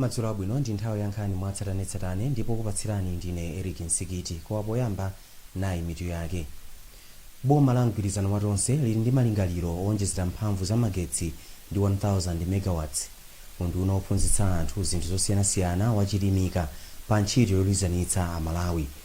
madzulo abwino ndi nthawi ya nkhani mwatsatanetsatane ndipo okupatsirani ndine eric nsikiti koma poyamba nayi mitu yake boma la mgwirizano wa tonse lili ndi malingaliro owonjezera mphamvu za magetsi ndi 1000 megawatts unduna wophunzitsa anthu zinthu zosiyanasiyana wachilimika pa ntchito yoyanjanitsa amalawi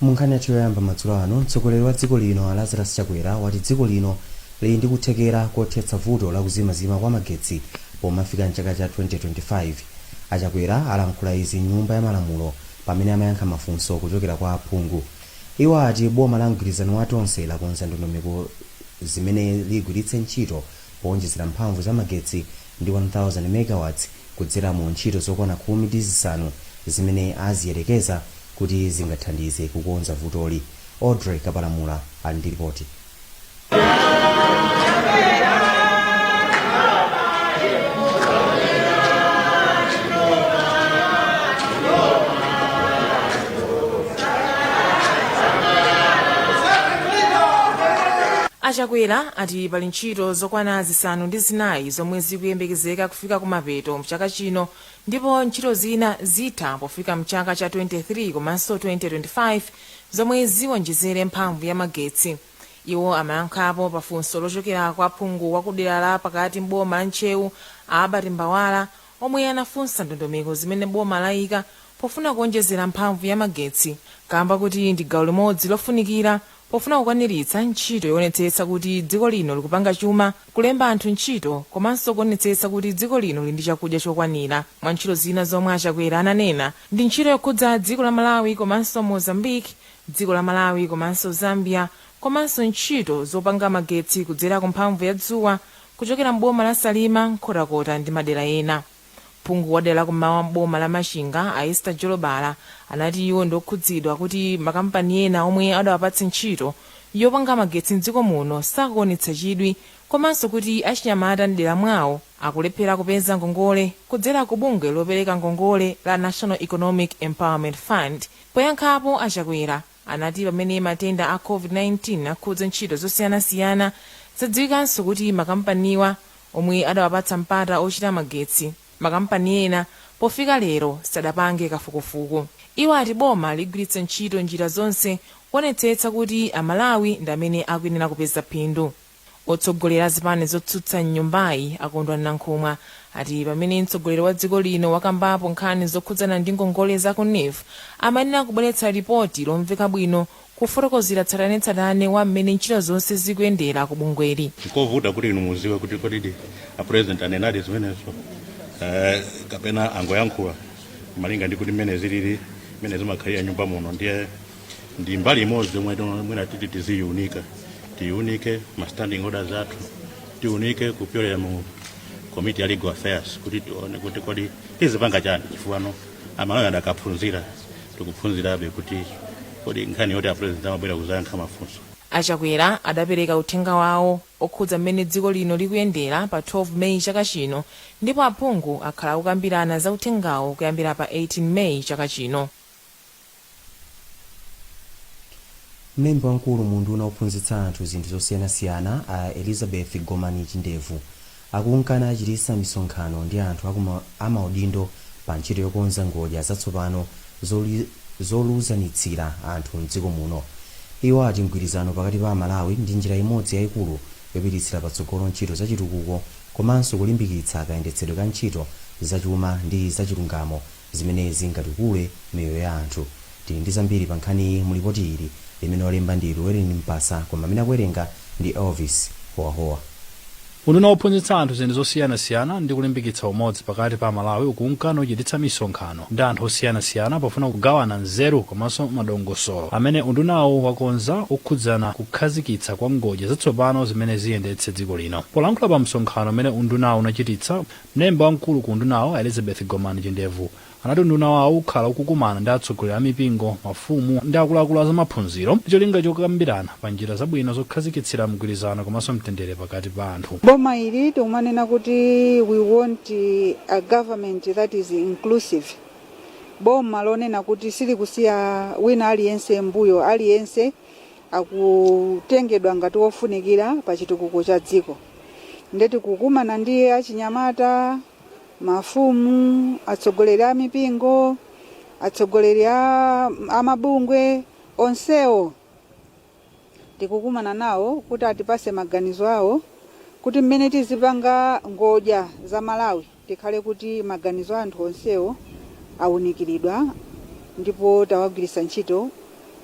munkhani yathu yoyamba madzulo ano mtsogoleri wa dziko lino a lazarus chakwera wati dziko lino lili ndi kuthekera kothetsa vuto la kuzimazima kwa magetsi pomafika mchaka cha 2025 achakwera alankhula izi mnyumba ya malamulo pamene amayankha mafunso kuchokera kwa aphungu iwo ati boma la mgwirizano wa tonse lakonza ndondomeko zimene ligwiritse ntchito powonjezera mphamvu za magetsi ndi 1,000 megawatts kudzera mu ntchito zokwana khumi ndi zisanu zimene aziyerekeza kuti zingathandize kukonza vutoli. Audrey Kapalamula ali ndi lipoti. achakwera ati pali ntchito zokwana zisanu ndi zinayi zomwe zikuyembekezeka kufika kumapeto mchaka chino ndipo ntchito zina zitha pofika mchaka cha 2023 komanso 2025 zomwe ziwonjezere mphamvu ya magetsi iwo amayankhapo pa funso lochokera kwa phungu wa kudera la pakati m'boma la ntcheu albert mbawala omwe anafunsa ndondomeko zimene boma layika pofuna kuwonjezera mphamvu ya magetsi kamba kuti ndi gawo limodzi lofunikira Pofuna kukwaniritsa ntchito yoonetsetsa kuti dziko lino likupanga chuma, kulemba anthu ntchito, komanso kuonetsetsa kuti dziko lino lili ndi chakudya chokwanira, mwa ntchito zina zomwe a Chakwera ananena ndi ntchito yokhudza dziko la Malawi komanso Mozambique, dziko la Malawi komanso Zambia, komanso ntchito zopanga magetsi kudzera ku mphamvu ya dzuwa kuchokera m'boma la Salima, Nkhotakota ndi madera ena. phungu wadera la kummawa m'boma la machinga a ester jolobala anati iwo ndiokhudzidwa kuti makampani ena omwe adawapatsa ntchito yopanga magetsi mdziko muno sakuonetsa chidwi komanso kuti achinyamata mdera mwawo akulephera kupeza ngongole kudzera ku bungwe lopereka ngongole la national economic empowerment fund poyankhapo achakwera anati pamene matenda a Covid-19 akhudza ntchito zosiyanasiyana, zadziwikanso kuti makampaniwa omwe adawapatsa mpata ochita magetsi, makampani ena pofika lero sadapange kafukufuku. Iwo ati boma ligwiritsa ntchito njira zonse kuonetsetsa kuti Amalawi ndi amene akuyenera kupeza phindu. Otsogolera zipani zotsutsa m'nyumbayi a Kondwani Nankhumwa ati pamene mtsogoleri wa dziko lino wakambapo nkhani zokhudzana ndi ngongole za ku neef, amayenera kubweretsa lipoti lomveka bwino kufotokozera tsatanetsatane wa mmene ntchito zonse zikuyendera ku bungweli. Nkovuta kuti inu muziwe kuti kodi a president anenadi zimenezo kapena angoyankhula malinga ndi kuti mmene zilili mmene zimakhalira nyumba muno ndiye ndi mbali imodzi yomwe mwina titi tiziyiunika tiyiunike ma standing orders athu tiunike kupyolera mu komiti ya legal affairs kuti tione kuti kodi tizipanga chani chifukwa amalawi adakaphunzira tikuphunzirabe kuti kodi nkhani yoti apresident amabwera kuzayankha mafunso achakwera adapereka uthenga wawo okhudza mmene dziko lino likuyendera pa 12 meyi chaka chino ndipo aphungu akhala akukambirana za uthengawo kuyambira pa 18 meyi chaka chino mlembi wamkulu mu unduna wophunzitsa anthu zinthu zosiyanasiyana a elizabeth gomani chindevu akunka nachititsa misonkhano ndi anthu amaudindo pa ntchito yokonza ngodya zatsopano zoluzanitsira anthu mdziko muno iwo ati mgwirizano pakati pa amalawi ndi njira imodzi yayikulu yopititsira patsogolo ntchito zachitukuko komanso kulimbikitsa kayendetsedwe ka ntchito zachuma ndi zachilungamo zimene zingatukule miyoyo ya anthu. Tili ndi zambiri pa nkhaniyi mu lipoti ili, limene walemba ndi Llewelyn Mpasa koma amene akuwerenga ndi Elvis Howahowa. Unduna wophunzitsa anthu zinthu zosiyanasiyana ndi kulimbikitsa umodzi pakati pa Amalawi ukunka nuchititsa misonkhano ndi anthu osiyanasiyana pofuna kugawana nzeru komanso madongosolo amene undunawu wakonza okhudzana kukhazikitsa kwa ngodya zatsopano zimene ziyendetse dziko lino. Polankhula pa msonkhano umene undunawu unachititsa, Mlembi wamkulu ku undunawu a Elizabeth Gomani Chindevu anati unduna wawo ukhala ukukumana ndi atsogoleri a mipingo, mafumu ndi akuluakulu a zamaphunziro ndi cholinga chokambirana pa njira zabwino zokhazikitsira mgwirizano komanso mtendere pakati pa anthu. Boma ili tikumanena kuti we want a government that is inclusive, boma lonena kuti silikusiya wina aliyense mmbuyo, aliyense akutengedwa ngati wofunikira pa chitukuko cha dziko nde tikukumana ndi achinyamata mafumu atsogoleri a mipingo atsogoleri a mabungwe onsewo tikukumana nawo kuti atipase maganizo awo kuti mmene tizipanga ngodya za malawi Tikhale kuti maganizo a anthu onsewo awunikiridwa ndipo tawagwiritsa ntchito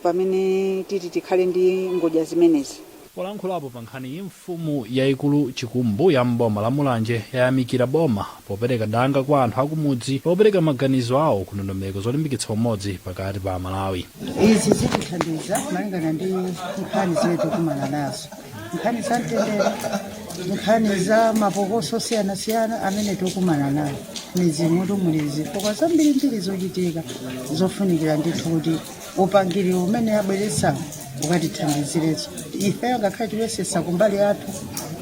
pamene titi tikhale ndi ngodya zimenezi. Polankhulapo pa nkhaniyi mfumu yaikulu Chikumbu ya m'boma la Mulanje yayamikira boma popereka danga kwa anthu akumudzi lopereka maganizo awo ku ndondomeko zolimbikitsa umodzi pakati pa Amalawi. Izi zitithandiza malingana ndi nkhani zimene tikukumana nazo. nkhani za mtendere nkhani za mapokoso osiyanasiyana amene tikukumana nawo mmizimutu muli zifukwa zambirimbiri zochitika zofunikira ndithu kuti upangiri umene abweretsa ukatithandizirenso ifeyo ngakhale tikuyesetsa kumbali yathu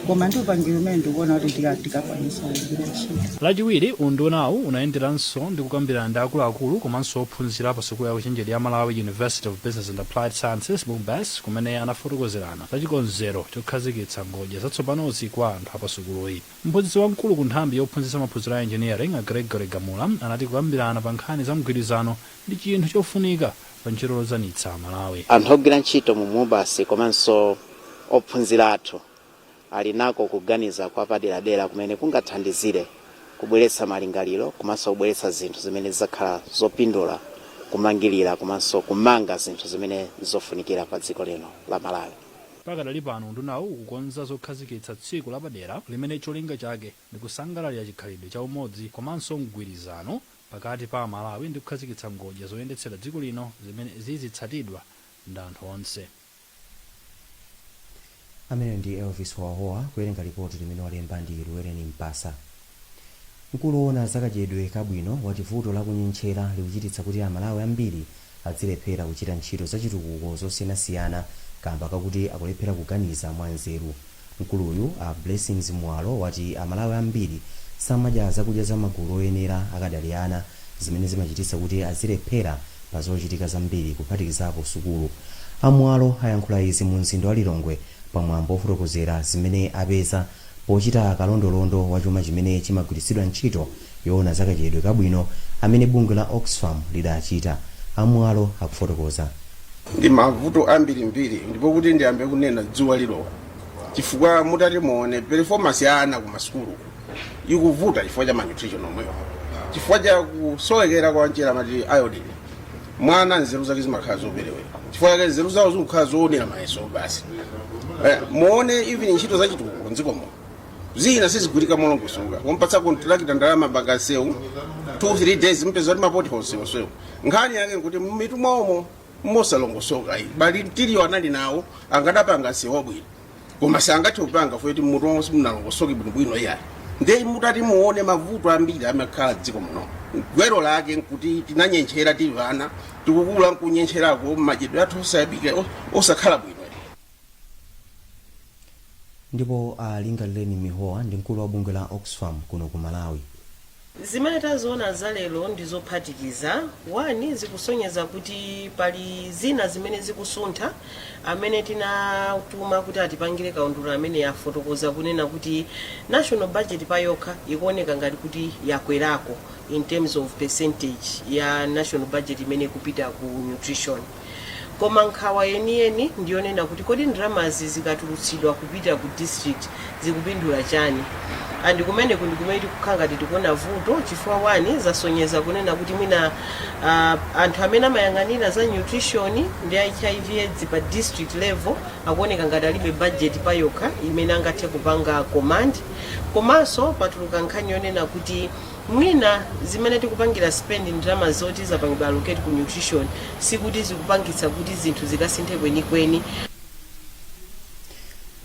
koma ndi upangiri umene ndikuona kuti tika- tikakwanisa kugwira ntchito lachiwiri undunawu unayenderanso ndi kukambirana ndi akuluakulu komanso ophunzira pa sukulu ya ukachenjede ya malawi university of business and applied sciences mubas kumene anafotokozerana za chikonzero chokhazikitsa ngodya zatsopanozi kwa anthu a pa sukuluyi. Mphunzitsi wamkulu ku nthambi yophunzitsa maphunziro a Engineering a Gregory Gamula anati kukambirana pa nkhani za mgwirizano ndi chinthu chofunika pa ntchito yoluzanitsa Amalawi. Anthu ogwira ntchito mu MUBAS komanso ophunzira athu ali nako kuganiza kwapaderadera kumene kungathandizire kubweretsa malingaliro komanso kubweretsa zinthu zimene zidzakhala zopindula kumangirira komanso kumanga zinthu zimene ndi zofunikira pa dziko lino la Malawi. Pakadali pano undunawu ukukonza zokhazikitsa tsiku lapadera limene cholinga chake ndi kusangalalira chikhalidwe cha umodzi komanso mgwirizano pakati pa Amalawi ndi kukhazikitsa ngodya zoyendetsera dziko lino zimene zizitsatidwa ndi anthu onse. ameneyo ndi elvis howahowa kuwerenga lipoti limene walemba ndi luwereni mpasa mkulu woona za kadyedwe kabwino wati vuto la kunyentchera likuchititsa kuti amalawi ambiri adzilephera kuchita ntchito zachitukuko zosiyanasiyana kamba kakuti akulephera kuganiza mwanzeru Mkuluyu, a Blessings Muwalo, wati a Malawi ambiri samadya zakudya za magulu oyenera akadali ana, zimene zimachititsa kuti azilephera pa zochitika zambiri kuphatikizapo sukulu. A Muwalo ayankhula izi mu mzinda wa Lilongwe pa mwambo ofotokozera zimene apeza pochita kalondolondo wa chuma chimene chimagwiritsidwa ntchito yoona za kadyedwe kabwino amene bungwe la Oxfam lidachita, a Muwalo akufotokoza. ndi mavuto ambirimbiri ndipo kuti ndiyambe kunena dzuwa lilowa chifukwa mutati muone performance ya ana ku masukulu ikuvuta chifukwa cha malnutrition yomweyo chifukwa cha kusowekera kwa mchere amati iodine mwana nzeru zake zimakhala zoperewera chifukwa chake nzeru zawo zikukhala zoonera mayeso basi eh, muone even ntchito za chitukuko mdziko muno zina sizigwirika molongosoka kumpatsa kontrakita ndalama apange nsewu 2-3 days mupeza kuti mapothole nsewuwo nkhani yake nkuti mmitu mwaomo mosalongosoka iyayi material anali nawo akadapanga nsewu bwino koma sangathe kupanga poti mmutu mwawo simunalongosoke bwinobwino iyayi nde mutati muone mavuto ambiri amakhala mdziko muno gwero lake nkuti tinanyentchera tili ana tikukula nkunyentcherako madyedwe athu osayambika osakhala bwino ndipo a Lingalireni Mihowa ndi mkulu wa bungwe la Oxfam kuno ku Malawi. Zimene taziona za lero ndizophatikiza. One, zikusonyeza kuti pali zina zimene zikusuntha. Amene tinatuma kuti atipangire kaundula amene afotokoza kunena kuti national budget pa yokha ikuoneka ngati kuti yakwerako in terms of percentage ya national budget imene ikupita ku nutrition. Koma nkhawa yeniyeni ndi yonena kuti kodi ndalamazi zikatulutsidwa kupita ku district zikupindula chani? And kumeneku ndikumene tikukhala ngati tikuona vuto chifukwa one zasonyeza kunena kuti mwina uh, anthu amene amayang'anira za nutrition ndi HIV AIDS pa district level akuoneka ngati alibe budget payokha imene angathe kupanga command komanso patuluka nkhani yonena kuti Mwina zimene tikupangira spend ndalama zoti zapangidwa allocate ku nutrition sikuti zikupangitsa kuti zinthu zikasinthe kwenikweni.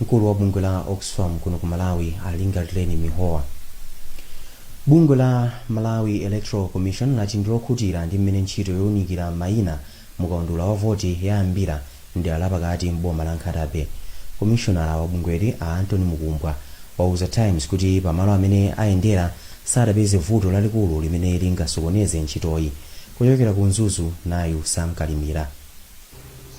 Mkulu wa bungwe la Oxfam kuno ku Malawi a Lingalireni Mihowa. Bungwe la Malawi Electoral Commission lati ndilokhutira ndi mmene ntchito younikira maina Mu kaundula wa voti yayambira m'dera la pakati m'boma la Nkhata Bay. Komishonala wa bungweli a Anthony Mukumbwa wauza Times kuti pa malo amene ayendera sadapeze vuto lalikulu limene lingasokoneze ntchitoyi. Kuchokera ku Mzuzu, nayu Sam Kalimira.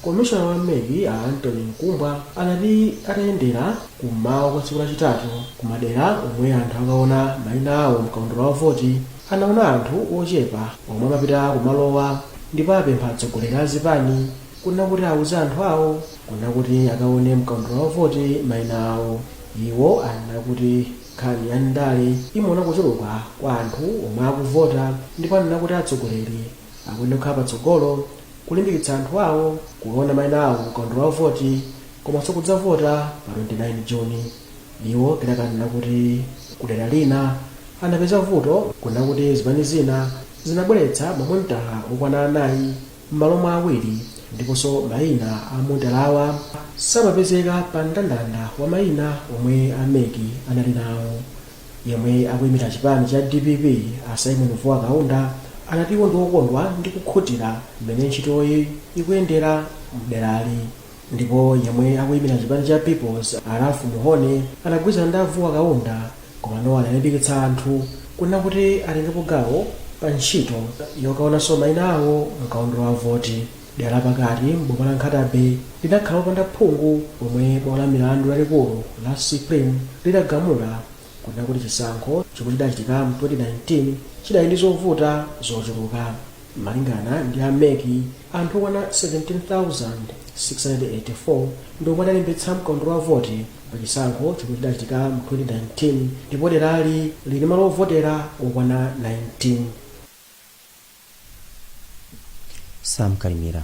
Komishona wa MEC a Anthony Mukumbwa anati atayendera kum'mawa kwa tsiku lachitatu ku madera omwe anthu akaona maina awo mkaundula wa voti, Anaona anthu ochepa omwe amapita kumalowa ndipo apempha atsogoleri a zipani kunena kuti auze anthu awo kunena kuti akaone mkaundula wa voti maina awo. Iwo anena kuti nkhani ya ndale imaona kuchuluka kwa anthu omwe akuvota ndipo anena kuti atsogoleri akuyenera kukhala patsogolo kulimbikitsa anthu awo kuona maina awo mkaundula wa voti komanso kudzavota pa 29 Juni. Iwo kenaka anena kuti kudera lina anapeza vuto kunena kuti zipani zina zinabweretsa mamonitala okwana anayi mmalo mwa awiri ndiponso maina a monitalawa samapezeka pa mndandanda wa maina omwe a MEC anali nawo. Yemwe akuyimira chipani cha DPP a Symon Vuwa Kaunda anati iwo ndiokondwa ndi kukhutira mmene ntchitoyi ikuyendera mderali. ndipo yemwe akuyimira chipani cha People's a Ralph Mhone adagwirizana ndi a Vuwa Kaunda koma iwo analimbikitsa anthu kunena kuti atengepo gawo pa ntchito yokaonanso mayina awo mkaundula wa voti. Dera la pakati m'boma la Nkhata Bay linakhala lopanda phungu pomwe bwalo la milandu lalikulu la Supreme lidagamula kunena kuti chisankho chomwe chidachitika mu 2019 chidali ndi zovuta zochuluka. Malingana ndi a mec, anthu okwana 17,684 ndi omwe adalembetsa mkaundula wa voti pa chisankho chomwe chidachitika mu 2019 ndipo derali lili ndi malo ovotera okwana 19. Sam Kalimira.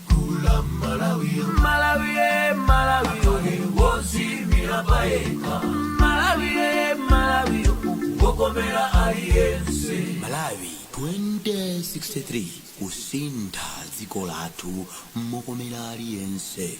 malawi 2063 kusintha dziko lathu mokomera aliyense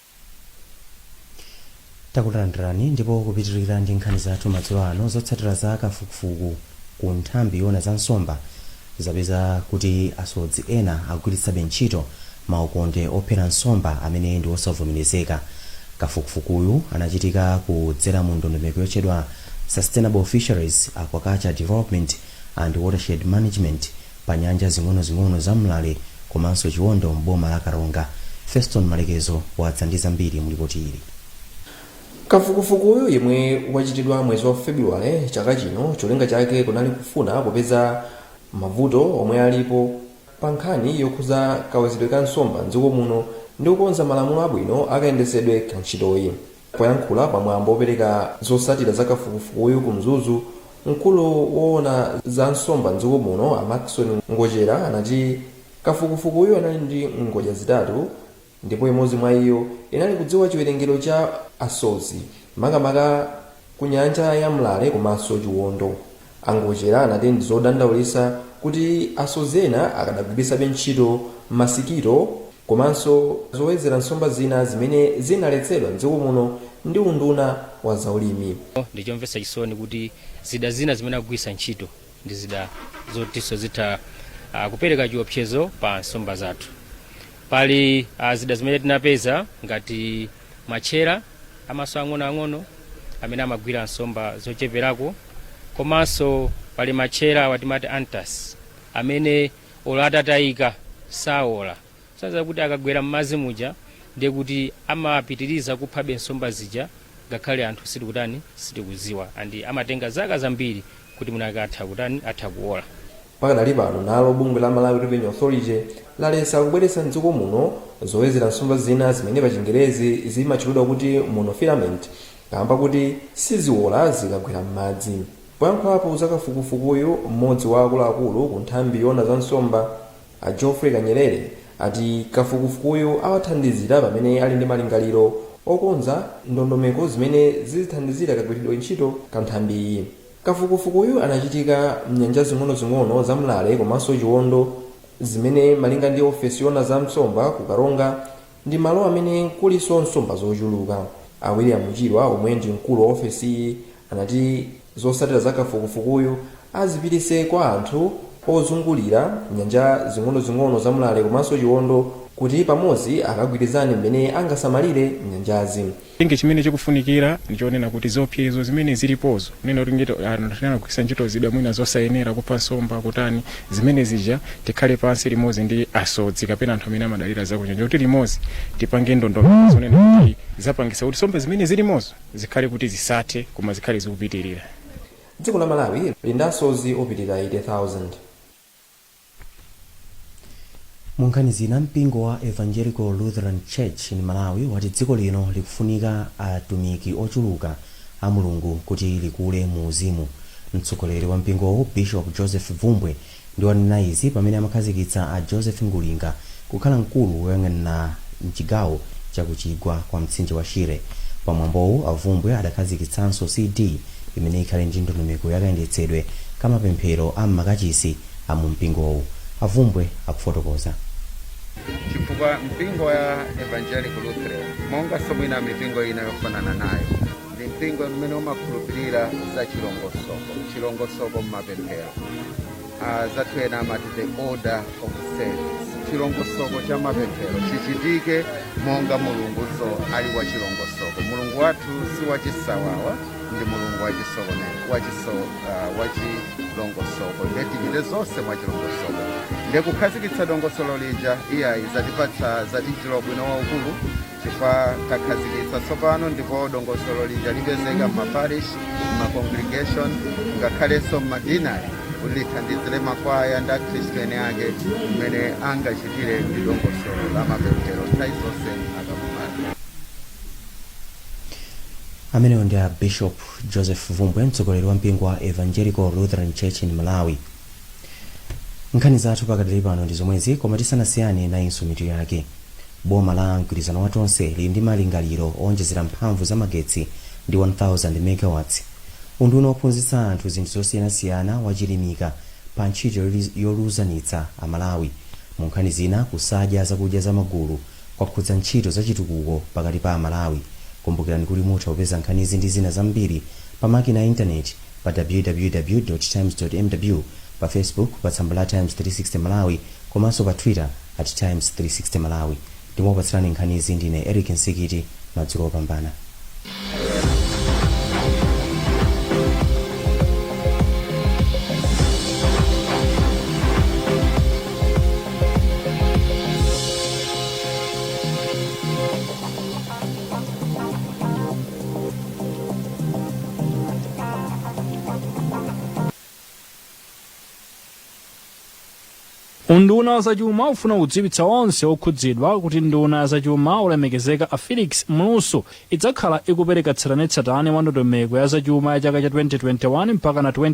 takulandirani ndipo kupitirira ndi nkhani zathu madzulo ano zotsatira za kafukufuku ku nthambi yona za nsomba zapeza kuti asodzi ena agwiritsabe ntchito maukonde ophera nsomba amene ndi osavomerezeka kafukufukuyu anachitika kudzera mu ndondomeko yotchedwa sustainable fisheries aquaculture development and watershed management pa nyanja zing'onozing'ono za Mlale komanso Chiwondo m'boma la Karonga. Feston Malekezo wadza ndi zambiri mu lipoti ili. kafukufukuyu yemwe wachitidwa mwezi wa februwale chaka chino cholinga chake kunali kufuna kupeza mavuto omwe alipo pa nkhani yokhudza kawezedwe ka nsomba mdziko muno ndi kukonza malamulo abwino akayendetsedwe ka ntchitoyi Poyankhula pa mwambo opereka zotsatira za kafukufukuyu ku Mzuzu, mkulu woona za nsomba m'dziko muno a Maxon Ngochera anati kafukufukuyu anali ndi ngodya zitatu ndipo imodzi mwa iyo inali kudziwa chiwerengero cha asodzi makamaka ku nyanja ya Mlale komanso Chiwondo. A Ngochera anati ndi zodandaulitsa kuti asodzi ena akadagwiritsabe ntchito masikito komanso zowedzera nsomba zina zimene zinaletsedwa m'dziko muno ndi unduna wa zaulimi. Ndi chomvetsa chisoni kuti zida zina zimene akugwiritsa ntchito ndi zida zotinso zitha kupereka chiopsezo pa nsomba zathu. Pali zida zimene tinapeza ngati matchera. amaso ang'onoang'ono amene amagwira nsomba zocheperako komanso pali matchera awa timati antas amene olo atatayika saola so that akagwera m'madzi muja ndiye kuti amapitiriza kuphabe nsomba zija ngakhale anthu sitikutani sitikudziwa andi amatenga zaka zambiri kuti mwinake atha kutani atha kuola Pakadali pano nalo bungwe la Malawi Revenue Authority lalesa kubweretsa m'dziko muno zowedzera nsomba zina zimene pachingerezi zimatchulidwa kuti monofilament kaamba kuti siziwola zikagwera m'madzi. Poyankhulapo za kafukufukuyu, m'modzi wa akuluakulu ku nthambi yoona za nsomba a Geoffrey Kanyerere ati kafukufukuyu awathandizira pamene ali ndi malingaliro okonza ndondomeko zimene zizithandizira kagwiridwe ntchito ka nthambiyi. Kafukufukuyu anachitika m'nyanja zing'onozing'ono za Mlale komanso Chiwondo zimene malinga ndi ofesi yoona za nsomba ku Karonga ndi malo amene kulinso nsomba zochuluka. A William Chirwa omwe ndi mkulu wa ofesiyi anati zotsatira za kafukufukuyu azipititse kwa anthu ozungulira nyanja zing'onozing'ono za Mlale komanso Chiwondo kuti pamodzi akagwirizane mmene angasamalire nyanjazi. Ndiye chimene chikufunikira ndi chonena kuti ziopsezo zimene zilipozo, kunena kuti kugwiritsa ntchito zida mwina zosayenera, kupha nsomba, kutani, zimene zija tikhale pansi limodzi ndi asodzi kapena anthu amene amadalira zakunyanja kuti limodzi tipange ndondomeko zonena kuti zapangitsa kuti nsomba zimene zilimozo zikhale kuti zisathe koma zikhale zikupitirira. Dziko la Malawi lili ndi asodzi opitirira 80,000. munkhani zina mpingo wa evangelical lutheran church in malawi wati dziko lino likufunika atumiki ochuluka a mulungu kuti likule mu uzimu mtsogoleri wa mpingowu bishop joseph bvumbwe ndi wanena izi pamene amakhazikitsa a joseph ngulinga kukhala mkulu woyang'anira m'chigawo cha ku chigwa kwa mtsinje wa Shire. Pa mwambowu a Bvumbwe adakhazikitsanso CD imene ikhale ndi ndondomeko ya kayendetsedwe ka mapemphero a m'makachisi a mu mpingowu. A Bvumbwe akufotokoza. chifukwa mpingo wa Evangelical Lutheran monganso mwina mipingo ina yofanana nayo ndi mpingo umene umakhulupirira za chilongosoko m'mapemphero. Anzathu ena amati the order of service, chilongosoko cha mapemphero chichitike monga Mulungunso ali wa chilongosoko. Mulungu wathu si wachisawawa, ndi Mulungu wachilongosoko. Ndiye tichite zonse mwa chilongosoko. Ndiye kukhazikitsa dongosolo lija, iyayi zatipatsa zatichitira ubwino waukulu chifukwa takhazikitsa tsopano ndipo dongosolo lija lipezeka m'maparish m'macongregation ngakhalenso m'madinari kuti lithandizire makwaya ndi akhristu ene ake mmene angachitire ndi dongosolo la mapemphero nthawi zonse akakumana amenewo ndi a bishop joseph bvumbwe mtsogoleri wa mpingo wa evangelical lutheran church in malawi nkhani zathu pakadali pano ndi zomwezi koma tisanasiyane nayinso mitu yake boma la mgwirizano wa tonse lili ndi malingaliro owonjezera mphamvu za magetsi ndi 1000 megawatts unduna wophunzitsa anthu zinthu zosiyanasiyana wachilimika pa ntchito yoluzanitsa amalawi mu nkhani zina kusadya zakudya za magulu kwakhudza ntchito za chitukuko pakati pa amalawi kumbukirani kuti mutha kupeza nkhanizi ndi zina zambiri pa makina a intaneti pa www times mw pa facebook pa tsamba la times 360 malawi komanso pa twitter at times 360 malawi ndipo okupatsirani nkhanizi ndine eric msikiti madzulo opambana unduna wa zachuma ufuna kudziwitsa onse okhudzidwa kuti nduna ya zachuma olemekezeka a felix mlusu idzakhala ikupereka tsatanetsatane wa ndondomeko ya zachuma ya chaka cha 2021 mpaka na 20